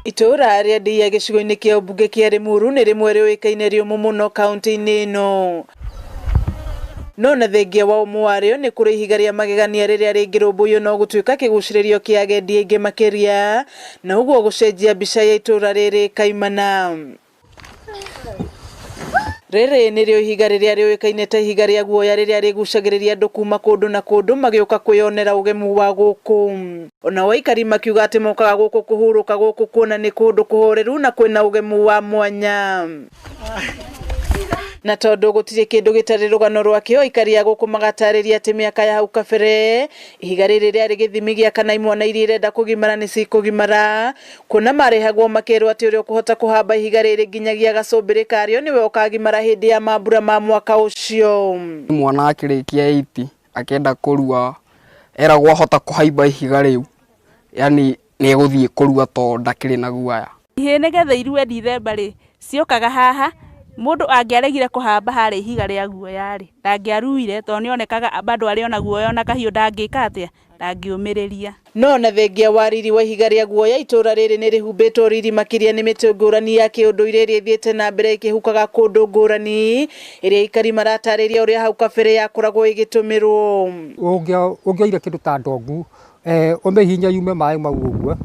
Itũũra rĩa Ndĩia gĩcigo-inĩ kĩa ũmbunge kĩa Rĩmuru nĩ rĩmwe rĩũĩkaine rĩ ũmũ mũno kaũntĩ-inĩ ĩno. No na thengia wa ũmũ warĩo nĩ kũrĩ ihiga rĩa magegania rĩrĩa rĩngĩrũmbũiyo no gũtuĩka kĩgucĩrĩrio kĩa agendi aingĩ makĩria na ũguo gũcenjia mbica ya itũũra rĩrĩ kaimana. Rĩrĩ nĩrĩo ihiga rĩrĩa rĩũĩkaine ta ihiga rĩa guoya rĩrĩa rĩgucagĩrĩria andũ kuma kũndũ na kũndũ magĩũka kwĩyonera ũgemu wa gũkũ. Onao aikari makiuga atĩ mokaga gũkũ kũhurũka gũkũ kuona nĩ kũndũ kũhoreru na kwĩna ũgemu wa mwanya. Na tondũ gũtirĩ kĩndũ gĩtarĩ rũgano rwakĩo, aikari a gũkũ magatarĩria atĩ mĩaka ya hau kabere, ihiga rĩrĩ rĩarĩ gĩthimi gĩa kana imwana iria irenda kũgimara nĩ cikũgimara. Kuona marehagwo makerwo atĩ ũrĩa ũkũhota kũhamba ihiga rĩrĩ nginyagia gacumbĩrĩ karĩo nĩwe ũkagimara hĩndĩ ya mambura ma mwaka ũcio. Mwana akĩrĩkia eight akenda kũrua eragwo ahota kũhaimba ihiga rĩu yaani nĩ egũthiĩ kũrua to ndakĩrĩ na guoya. Ihĩĩ nĩ getha irue Dithemba rĩ, ciũkaga haha, mũndũ angĩaregire kũhamba harĩa ihiga rĩa guoya rĩ, ndangĩaruire tondũ nĩ onekaga bado arĩ o na guoya o na kahiũ ndangĩka atĩa? ndangĩũmĩrĩria. No na thengia wa riri wa ihiga rĩa guoya, itũũra rĩrĩ nĩ rĩhumbĩtwo riri makĩria nĩ mĩtĩ ngũrani ya kĩũndũire ĩrĩa ĩthiĩte na mbere ĩkĩhukaga kũndũ ngũrani, ĩrĩa aikari maratarĩria ũrĩa hau kabere yakoragwo ĩgĩtũmĩrwo. Ũngĩoire kĩndũ ta ndongu ũmĩhihinye yume maĩ mau ũguo,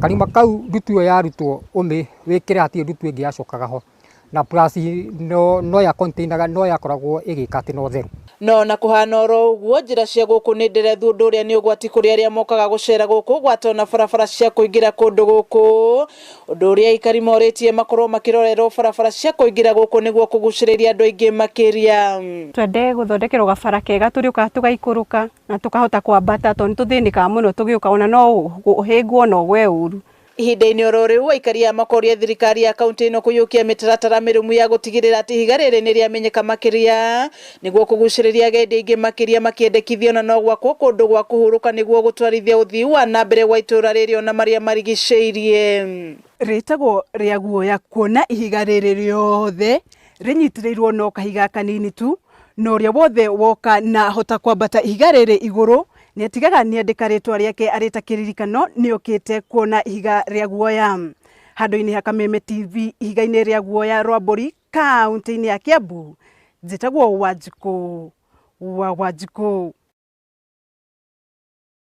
karima kau ndutu ĩyo yarutwo ũmĩwĩkĩre hatirĩ ndutu ĩngĩ yacokaga ho. Na plus no, no ya container no yakoragwo ĩgĩka atĩ no theru. No ona kũhana oro ũguo, njĩra cia gũkũ nĩ nderethu ũndũ ũrĩa nĩ ũgwati kũrĩ arĩa mokaga gũcera gũkũ gwata ona barabara cia kũingĩra kũndũ gũkũ. Ũndũ ũrĩa aikari morĩtie makorwo makĩrorerwo barabara cia kũingĩra gũkũ nĩguo kũgucĩrĩria andũ aingĩ makĩria. Twende gũthondekerwo gabara kega tũrĩũkaga tũgaikũrũka na tũkahota kwambata tondũ nĩ tũthĩnĩkaga mũno tũgĩũka ona no ũhĩngwo na ũgwe ũru. Ihinda-inĩ oro rĩu, aikaria makoria thirikari ya kauntĩ ĩno kũiyũkia mĩtaratara mĩrũmu ya gũtigĩrĩra atĩ ihiga rĩrĩ nĩ rĩamenyeka makĩria nĩguo kũgucĩrĩria agendi aingĩ makĩria makĩendekithio na no gwakwo kũndũ gwa kũhurũka nĩguo gũtwarithia ũthii wa na mbere gwa itũũra rĩrĩ ona marĩa marigicĩirie. Rĩtagwo rĩa guoya kuona ihiga rĩrĩ rĩothe rĩnyitĩrĩirwo no kahiga kanini tu, na ũrĩa wothe woka na ahota kwambata ihiga rĩrĩ igũrũ Nĩatigaga nĩandĩka rĩĩtwa rĩake arĩ ta kĩririkano, nĩokĩte kuona ihiga rĩa guoya. Handũ-inĩ ha Kameme TV ihiga-inĩ rĩa guoya rwa mbũri kauntĩ-inĩ ya Kĩambu, njĩtagwo Wanjikũ wa Wanjikũ.